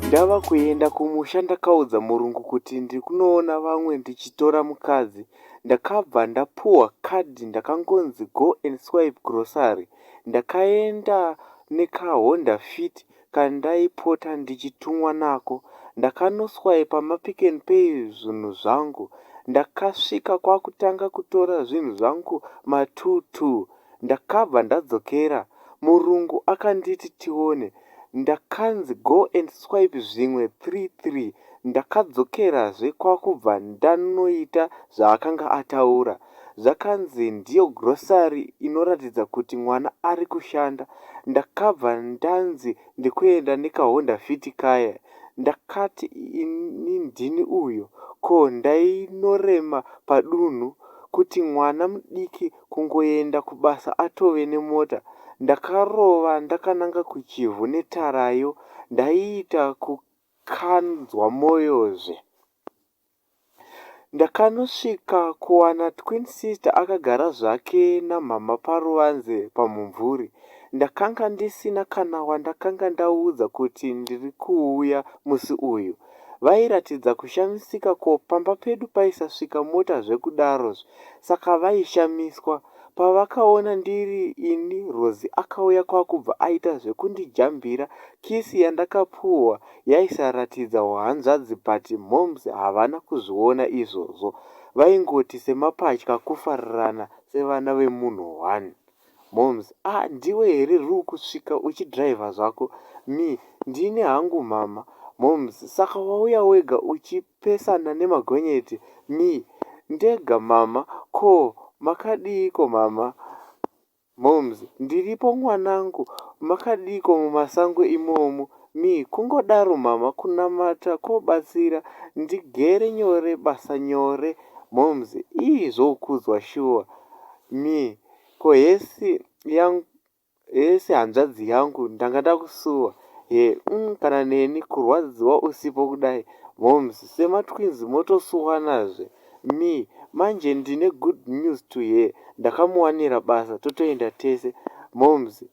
Ndava kuenda kumusha ndakaudza murungu kuti ndiri kunoona vamwe ndichitora mukadzi. Ndakabva ndapuhwa card ndakangonzi go and swipe grocery. Ndakaenda nekaHonda fit kandaipota ndichitumwa nako ndakanoswaipa mapick and pay zvinhu zvangu ndakasvika kwakutanga kutora zvinhu zvangu ma two two ndakabva ndadzokera murungu akanditi tione ndakanzi go and swipe zvimwe three three ndakadzokerazve kwakubva ndanoita zvaakanga ataura zvakanzi ndiyo grocery inoratidza kuti mwana ari kushanda ndakabva ndanzi ndikuenda nekaHonda Fit kaye ndakati ini ndini uyo ko ndainorema padunhu kuti mwana mudiki kungoenda kubasa atove nemota ndakarova ndakananga kuChivhu netarayo ndaiita kukanzwa moyozve Ndakanosvika kuwana twin sister akagara zvake namhamha paruvanze pamumvuri. Ndakanga ndisina kana wandakanga ndaudza kuti ndiri kuuya musi uyu. Vairatidza kushamisika ko pamba pedu paisasvika mota zvekudaro saka vaishamiswa. Pavakaona ndiri ini Rosie akauya kwakubva aita zvekundijambira kiss yandakapuhwa yaisaratidza uhanzvadzi but momz havana kuzviona izvozvo vaingoti semapatya kufarirana sevana vemunhu one momz ah ndiwe here riukusvika uchidriver zvako me ndini hangu mhamha momz saka wauya wega uchipesana nemagonyeti me ndega mhamha ko makadiiko mhamha Momz. Ndiripo mwanangu makadiiko mumasango imomo? Me. Kungodaro mhamha kunamata kobatsira ndigere nyore basa nyore Momz. Iih zvokudzwa shuwa Me. Ko hesi yangu hesi hanzvadzi yangu ndanga ndakusuwa her umm kana neni kurwadziwa usipo kudai Momz. Sematwins motosuwanazve. Me, Manje ndine good news to her ndakamuwanira basa totoenda tese. Momz,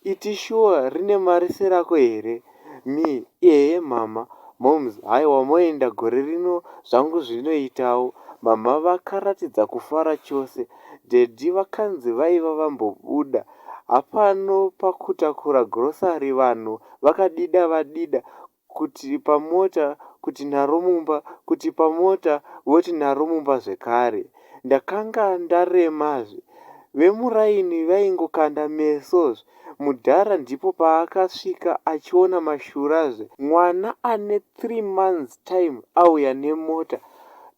Iti shuwa rine mari serako here? Me, Ehe mhamha. Momz, Haiwa moenda gore rino zvangu zvinoitawo. Mhamha vakaratidza kufara chose. Daddy vakanzi vaiva vambobuda hapano pakutakura grocery vanhu vakadida vadida kuti pamota kuti nharo mumba kuti pamota voti nharo mumba zvekare. Ndakanga ndaremazve. Vemuraini vaingokanda mesozve. Mudhara ndipo paakasvika achiona mashurazve. Mwana ane three months time auya nemota.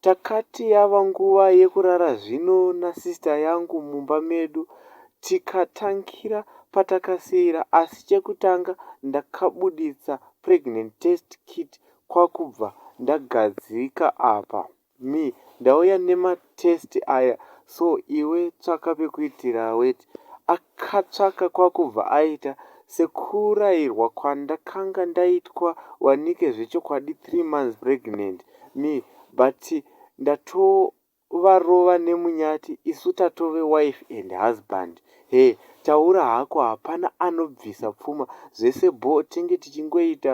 Takati yava nguva yekurara zvino nasister yangu mumba medu Tikatangira patakasiira asi chekutanga ndakabuditsa pregnant test kit kwakubva ndagadzika apa. Me, Ndauya nema test aya so iwe tsvaka pekuitira weti. Akatsvaka kwakubva aita sekurairwa kwandakanga ndaitwa wanike zvechokwadi three months pregnant. Me, But ndatoo varova nemunyati isu tatove wife and husband her taura hako hapana anobvisa pfuma zvese bhoo tenge tichingoita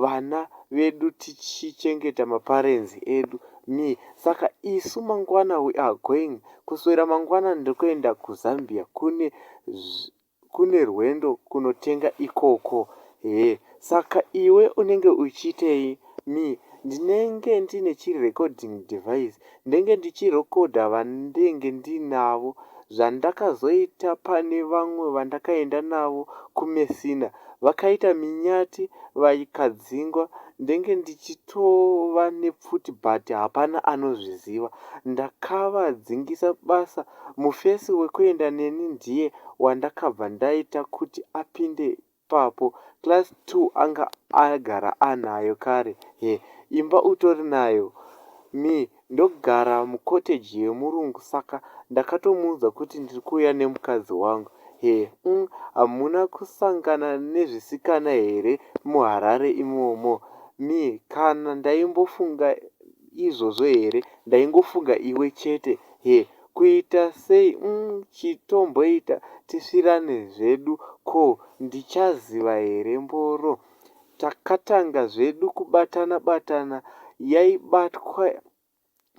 vana vedu tichichengeta maparents edu Me, saka isu mangwana we are going kuswera mangwana ndiri kuenda kuZambia kune Kune rwendo kunotenga ikoko hee. Saka iwe unenge uchiitei? Me, Ndinenge ndine chi recording device ndenge ndichirecorder vandenge ndinavo zvandakazoita pane vamwe vandakaenda navo ku Messina vakaita minyati vakadzingwa ndenge ndichitova nepfuti but hapana anozviziva ndakavadzingisa basa Mufesi wekuenda neni ndiye wandakabva ndaita kuti apinde ipapo class two anga agara anayo kare her imba utori nayo? Me. Ndogara mucottage yemurungu saka ndakatomuudza kuti ndiri kuuya nemukadzi wangu her umm hamuna kusangana nezvisikana here muharare imomo? Me. Kana ndaimbofunga izvozvo here ndaingofunga iwe chete her kuita sei umm chitomboita tisvirane zvedu ko ndichaziva here mboro takatanga zvedu kubatana batana yaibatwa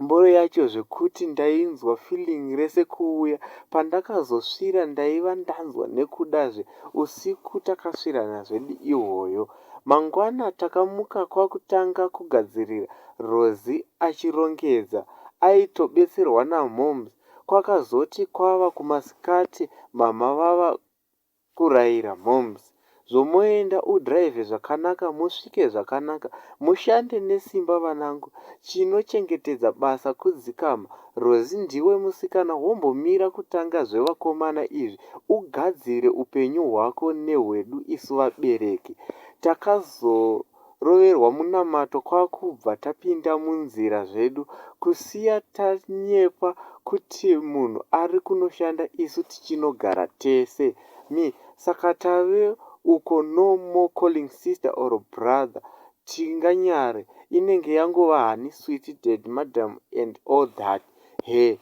mboro yacho zvekuti ndainzwa feeling rese kuuya pandakazosvira ndaiva ndanzwa nekudazve usiku takasvirana zvedu ihwoyo Mangwana takamuka kwakutanga kugadzirira Rosie achirongedza aitobetserwa namoms kwakazoti kwava kumasikati mhamha vava kuraira moms zvomoenda udrive zvakanaka musvike zvakanaka mushande nesimba vanangu chinochengetedza basa kudzikama Rozi ndiwe musikana wombomira kutanga zvevakomana izvi ugadzire upenyu hwako nehwedu isu vabereki. Takazoroverwa munamato kwakubva tapinda munzira zvedu kusiya tanyepa kuti munhu ari kunoshanda isu tichinogara tese. Me, Saka tave uko no more calling sister or brother Tinganyare inenge yangova hani sweet dad madam and all that her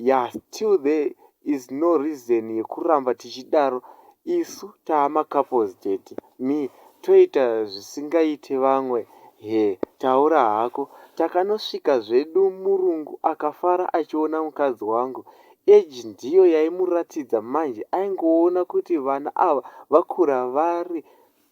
yah still there is no reason yekuramba tichidaro isu taama couples dad me toita zvisingaite vamwe her taura hako takanosvika zvedu murungu akafara achiona mukadzi wangu age ndiyo yaimuratidza manje aingoona kuti vana ava vakura vari